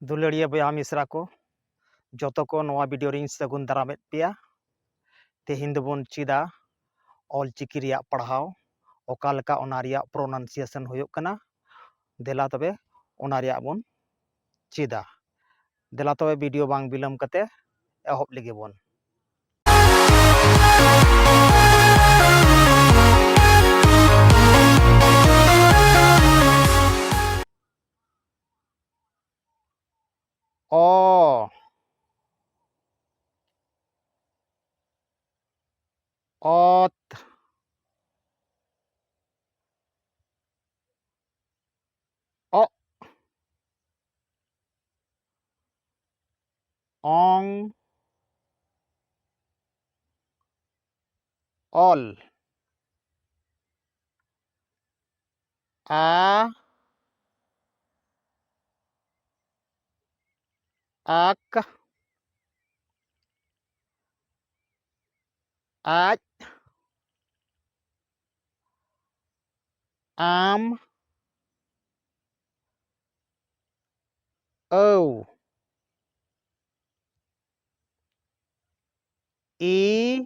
ᱫᱩᱞᱟᱹᱲᱤᱭᱟᱹ ᱵᱚᱭᱦᱟ ᱢᱤᱥᱨᱟ ᱠᱚ ᱡᱚᱛᱚ ᱠᱚ ᱱᱚᱣᱟ ᱵᱷᱤᱰᱤᱭᱳ ᱨᱤᱧ ᱥᱟᱹᱜᱩᱱ ᱫᱟᱨᱟᱢᱮᱫ ᱯᱮᱭᱟ ᱛᱮᱦᱮᱧ ᱫᱚᱵᱚᱱ ᱪᱮᱫᱟ ᱚᱞ ᱪᱤᱠᱤ ᱨᱮᱭᱟᱜ ᱯᱟᱲᱦᱟᱣ ᱚᱠᱟ ᱞᱮᱠᱟ ᱚᱱᱟ ᱨᱮᱭᱟᱜ ᱯᱨᱚᱱᱟᱱᱥᱤᱭᱮᱥᱚᱱ ᱦᱩᱭᱩᱜ ᱠᱟᱱᱟ ᱫᱮᱞᱟ ᱛᱚᱵᱮ ᱚᱱᱟ ᱨᱮᱭᱟᱜ ᱵᱚᱱ ᱪᱮᱫᱟ ᱫᱮᱞᱟ ᱛᱚᱵᱮ ᱵᱷᱤᱰᱤᱭᱳ ᱵᱟᱝ ᱵᱤᱞᱚᱢ ᱠᱟᱛᱮ ᱮᱦᱚᱵ ᱞᱮᱜᱮ ᱵᱚᱱ ᱚ ᱚᱛ ᱚᱜ ᱚᱝ ᱚᱞ ᱟ ᱟᱠ ᱟᱡ ᱟᱢ ᱟᱹᱣ ᱤ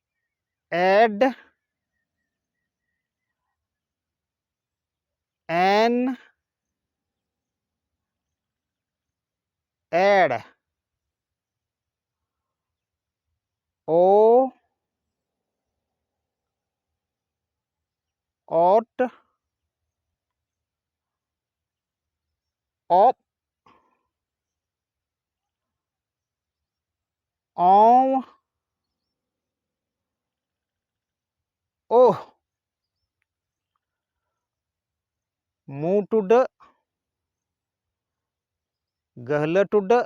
ᱮᱰ ᱮᱱ ᱮᱲ ᱳ ᱚᱴ ᱚᱯ ᱚᱣ ᱳᱦ ᱢᱩ ᱴᱩᱰᱟᱹᱜ ᱜᱟᱹᱦᱞᱟᱹ ᱴᱩᱰᱟᱹᱜ